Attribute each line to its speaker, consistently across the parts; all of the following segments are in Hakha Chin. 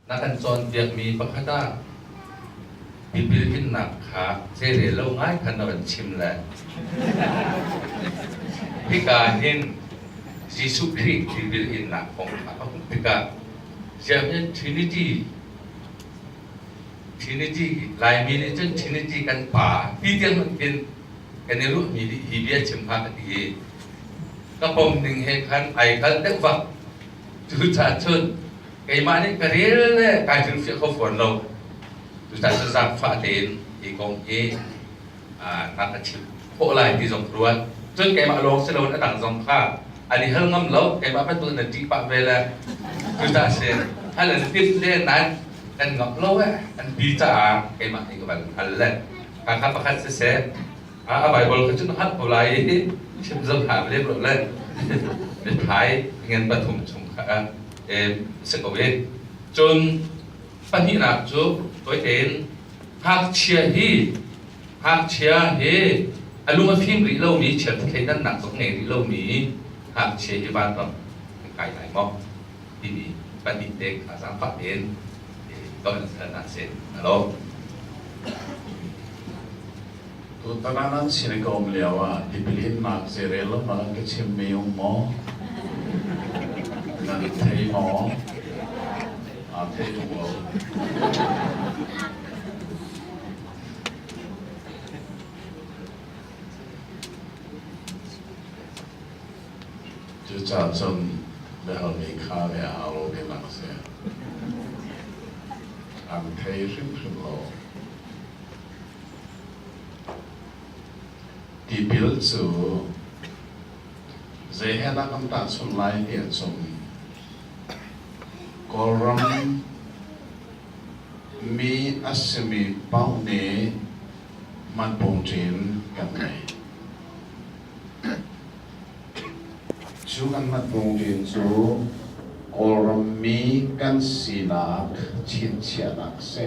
Speaker 1: Na kan cawnpiakmi pakhat ah tipil innak kha zeirel lo ngai khan na kan chim le hika hin Jesuh Khrih tipil innak kong kha a hmuh tikah ziahin Trinity Trinity Laimi nih cun Trinity kan pa ti tiang hin kan i ruahmi nih hi bia chim kha ka ti i ka pom ning he khan ai kal deuh bak Tuchan cun keimah nih ka rel le kai hringfiah kho fawn lo. Tuchan cu zaangfah tein i kong hi na ka chimh khawh lai ti zong ka ruat. Cun keimah lawng si loin a dang zong kha an i hal ngam lo. Keimah bantuk nan ṭih pah ve le tuchan si hal an timh le nan kan ngamh lo eh an ti caah keimah nih ka van hal le. Khanghan pakhat siseh, a Baibal kha cun hngalh ko lai i chim zong hlah lem lo le mithmai ngan pathum chung kha si ko i cun pahnihnak cu toi tein hngakchia hi hngakchia hi a lung a fim rih lomi chiat thleidannak zong ngei rih lomi hngakchia hi vanram kai lai maw timi pahnih te kha zaangfah tein ton hal na si. Halo. Tutan ah nan sin ka um lioah tipil innak zeirel lam ah an ka chimmi um maw? Nan thei maw? Aa thei lo. Cucaah cun biahalmi kha bia hau lo ve nak si. An thei hrimhrim lo. Tipil cu zei he dah kan tahchunh lai ti a cung Kawlram mi a simi paune hmanpungṭin kan ngei. Cu kan hmanpungṭin cu Kawlram mi kan sinak chinchiahnak a si.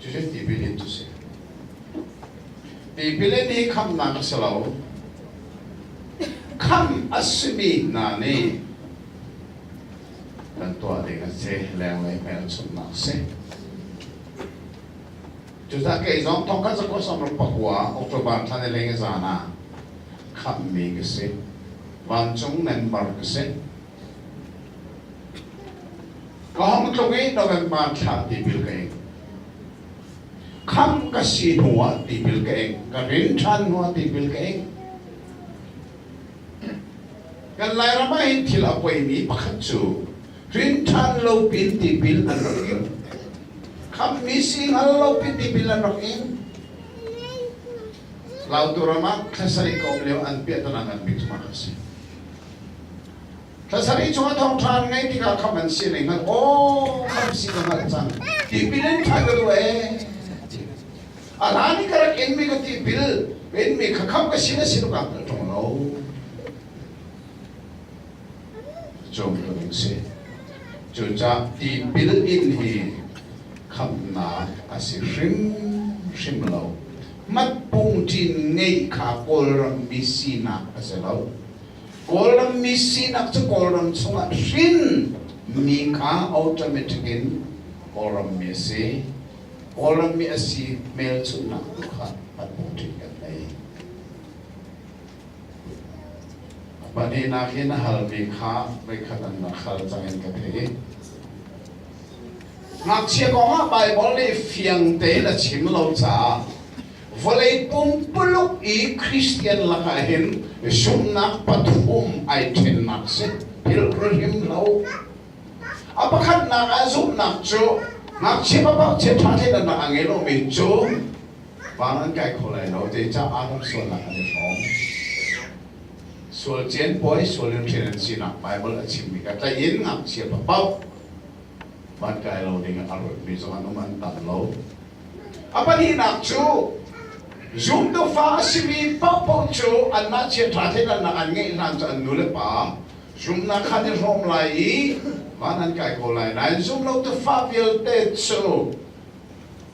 Speaker 1: Cucu tipil in cu si. Tipil in hi khamhnak a si lo. Khamh a simi hna nih kan tuah ding a si, lenglei hmelchunhnak a si. Cucah kei zong thongkhat zakua samrok pakua October thla ni leng zan ah khamhmi ka si. Vancung member ka si. Ka hong tlung i na kan hmanthlak tipil ka ing. Kham ka si hnuah tipil ka ing. Ka rin ṭhan hnuah tipil ka ing. Kan lairam ah hin thil a poimi pakhat cu rinṭhan lopin tipil an rak ing. Khammi sing al lopin tipil an rak ing. Lautu ram ah thlasarih ka um lio an piahtanak ngan bik cu mah a si. Thlasarih chung a thawngṭha an ngaih tikah khamh an si le hngalh, aw khamh si ka hngalh cang, tipil in ṭha ka duh ee. A hlan i ka rak inmi ka tipil, ka inmi kha khamh ka si le si tluk ah ka ṭong lo. cawm ding si. Cucah tipil in hi khamhnak a si hrimhrim lo. Matpung ṭin ngeih kha Kawlrammi sinak a si lo. Kawlrammi sinak cu Kawlram chungah hrin mi kha automatic in Kawlrammi a si. Kawlrammi a si hmelchunhnak tu kha Matpung ṭin kan ngei. Pahnihnak in a halmi kha voikhat an rak hal cang in ka theih. Ngakchia kongah Baibal nih fiang tein a chim lo caah vawlei pumpuluk i Christian lakah hin zumhnak pathum ai ṭhennak si pilhrihim lo. A pakhatnak ah zumhnak cu ngakchia papakchia ṭha in an rak ngei lomi cu Van an kai kho lai lo, zeicaah ram sualnak an i hrawm. Sual cianpuai, sual in ṭhen an sinak Baibal a chimmi kha tlaih in ngakchia paoh van kai lo dingin a ruatmi zong an um, an tam lo. A pahnihnak cu zumtu fa a simi paohpaoh cu anmah chiaṭha thleidannak an ngeih hlan cu an nule pa zumhnak kha an i hrawm lai i van an kai ko lai nain zumlotu fa vialte cu